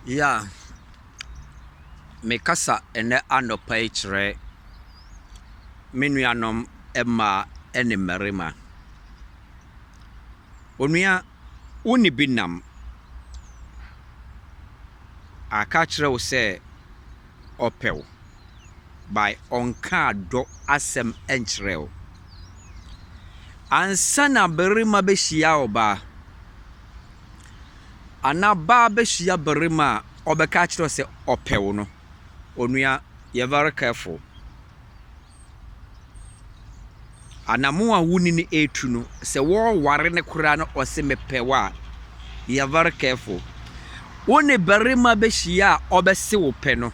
Yeah, mekasa nnɛ anɔpa yi kyerɛ me nuanom mmaa ne mmarima. Onua, wo ne bi nam. Waka akyerɛ wo sɛ ɔpɛ wo, but ɔnkaa dɔ asɛm nkyerɛɛ wo. Ansa na barima bɛhyia ɔbaa. Ana baa bɛhyia barima a ɔbɛka akyerɛ wo sɛ ɔpɛ wo no? Onua, yɛ very careful. Anamon a wo ne no retu no, sɛ wɔreware no koraa na ɔse mepɛ wo a, yɛ very careful. Wo ne barima bɛhyia a ɔbɛse wo pɛ no,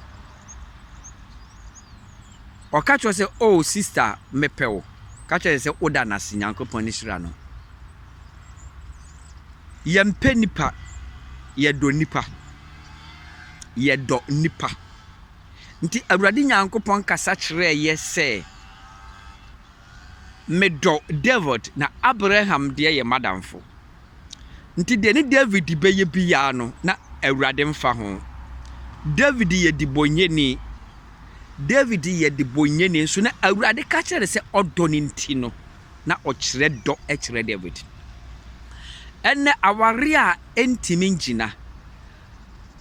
ɔka kyerɛ sɛ oh sister mepɛ wo, ka kyerɛ sɛ woda no ase, Nyankopɔn ani hyira no. Yɛmpɛ nnipa, yɛdɔ nnipa. Yɛdɔ nnipa. Nti Awurade Nyankopɔn kasa kyerɛɛ yɛ sɛ, Medɔ David, na Abraham deɛ yɛ m'adamfo. Nti deɛ ne David bɛyɛ biara no, na Awurade mfa ho. David yɛ dibɔnyɛni. David yɛ dibɔnyɛni, nso na Awurade ka kyerɛ no sɛ ɔdɔ no nti no, na ɔkyerɛ dɔ kyerɛ Dawid. Ɛnnɛ, aware a entumi ngyina,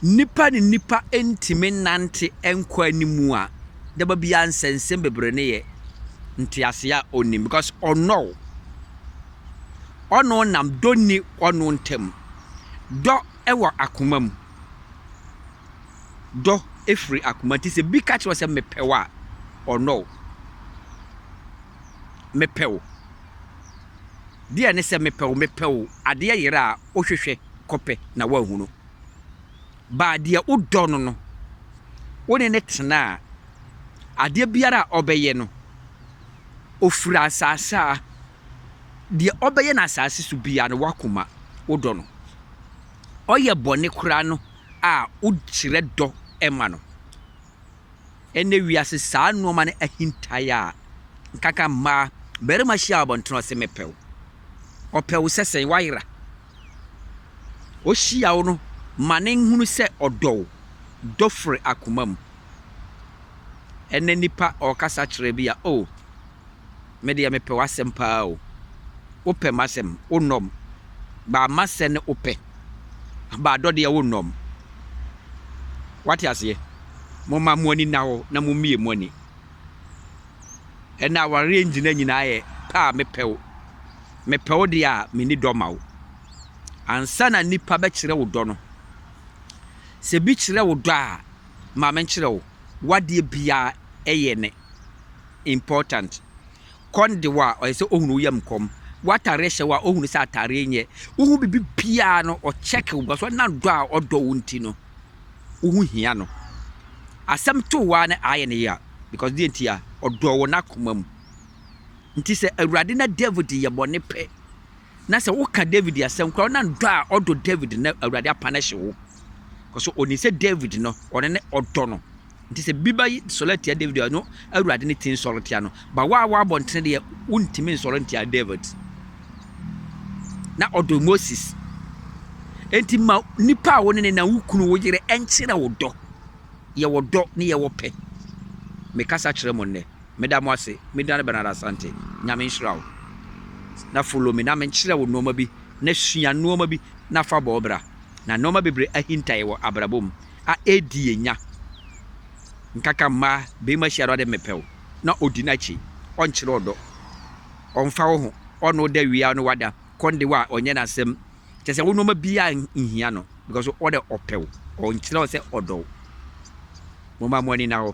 nnipa ne nnipa ntumi nnante nkɔ anim a, da ba biara nsɛnsɛm bebree no yɛ ntease a onnim because ɔnnɔ wo. Ɔno nam dɔ nni ɔno ntam. Dɔ wɔ akoma mu. Dɔ firi akoma nti sɛ bi ka kyerɛ wo sɛ mepɛ wo a, ɔnnɔ wo. mepɛ wo. Deɛ ne sɛ mepɛ wo, mepɛ wo, adeɛ yera a wohwehwɛ kɔpɛ na woanhunu. Baa deɛ wodɔ no no, wo ne no tena a, adeɛ biara a ɔbɛyɛ no, ɔfiri asaase a, deɛ ɔbɛyɛ no asaase so biara no, w'akoma, wodɔ no. Ɔyɛ bɔne koraa no a, wokyerɛ dɔ ma no. Ɛnnɛ wiase saa nnoɔma no ahintaeɛ a, nkanka mmaa, barima hyia wɔ abɔntene ɔse mepɛ wo, ɔpɛ wo sɛ sɛn? Wayera. Ɔhyia wo no ma no nhunu sɛ ɔdɔ wo, dɔ firi akoma mu. Ɛnnɛ nipa ɔkasa kyerɛ bi a oh. Me deɛ me pɛ w'asɛm paa o Wo pɛ m'asɛm wo nnɔm Baa ma sɛ ne wo pɛ Baa dɔ deɛ wo nnɔm W'ate aseɛ Mo ma mo ani nna hɔ na mo mmie mo ani Ɛnna awareɛ ngyina nyinaa yɛ pɛ a me pɛ wo Me pɛ wo deɛ a me nni dɔ ma wo Ansa na nnipa bɛ kyerɛ wo dɔ no Sɛ bi kyerɛ wo dɔ a ma me nkyerɛ wo W'adeɛ biara yɛ ne. important. Kɔn de wo a, ɔyɛ sɛ ohunu wo yam kɔm. W'atareɛ hyɛ wo a, ohunu sɛ atareɛ nyɛ. Wohu biribi biara no, ɔkyɛke wo because ɔnam dɔ a ɔdɔ wo nti no, wo ho hia no. Asɛm to wo ara no ayɛ ne ya because deɛ nti a, ɔdɔ wo n'akoma mu. Nti sɛ Awurade na David yɛ bɔne pɛ, na sɛ woka David asɛm koraa, ɔnam dɔ a ɔdɔ David na Awurade apana hye wo. Because ɔnim sɛ David no, ɔno ne ɔdɔ no Ntsi sɛ bi bɛ sɔlɛ tsia David a, no Ewuradze ne tsin sɔr tsia no, ba wo a wɔabɔ ntsene deɛ, wonntimi nnsɔr nntsia David. Na ɔdɔ Moses. Ntsi ma nipa a wo ne no na wo kunu, wo yere nkyerɛ wo dɔ. Yɛwɔ dɔ ne yɛwɔ pɛ. Mekasa kyerɛ mo nnɛ. Meda mo ase. Me din ara Bernard Asante. Nyame nhyira wo. Na follow me na menkyerɛ wo nnoɔma bi na sua nnoɔma bi na fa bɔ wo bra. Na nnoɔma bebree ahinta yɛ wɔ abrabɔ mu. a edi enya nkaka mma barima hyia no a dɛ mepɛ wo na odi n'akyi ɔnnkyerɛ wo dɔ ɔmmfa wo ho ɔne wo da wie a ɔne wo ada kɔ no de wo a ɔnnyɛ n'asɛm kyerɛ sɛ wo nnoɔma biara nnhia no because wo dɛ ɔpɛ wo ɔnnkyerɛ wo sɛ ɔdɔ wo momma mo ani nna hɔ.